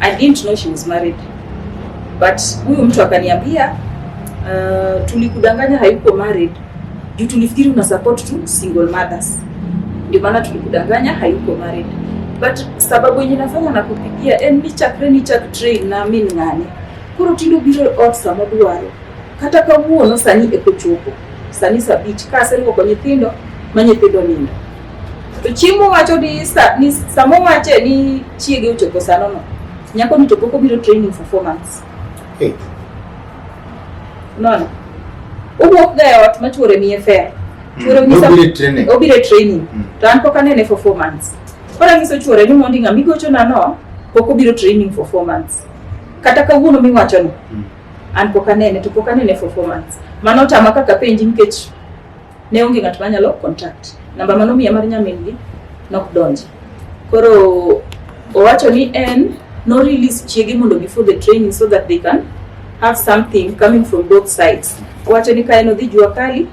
I didn't know she was married. But huyu mtu akaniambia uh, tulikudanganya hayuko married juu tulifikiri una support tu single mothers, ndio maana tulikudanganya hayuko married. But sababu yenye nafanya na kupigia en eh, ni chakre ni chak train na mimi ngani kuro tindo biro ot sama dwaro kata kawuono sani ekochopo sani sabich ka aseriwo kwa nyithindo ma nyithindo nindo To chiemo wacho ni sa, ni samo wache ni chiege ochopo sano no. Nyako ni to pok obiro training for four months. Hey. Unaona? Owuok ga e ot ma chuore miye fare. Chuore onyisa Nobiro e training. obiro e training Mm. to an pok anene for four months koro anyiso chuore ni mondi ng'a migochona no pok obiro training for four months kata kawuono miwachono Mm. an pok anene to pok anene for four months mano otama kaka penji nikech Ne onge ng'at manyalo contact. Namba mano miya mar nyamingi nok donji. Koro owacho ni en no release chiege mondo before the training so that they can have something coming from both sides. Owacho ni ka en odhi jua kali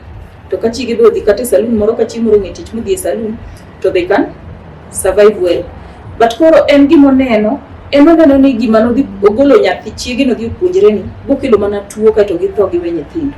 to ka chiege be odhi kata e saloon moro ka chieng' moro ng'e tich modhi e saloon to they can survive well. But koro en gima oneno en oneno ni gima nodhi ogolo nyathi chiege nodhi opuonjre ni bokelo mana tuo kaeto githo giwe nyithindo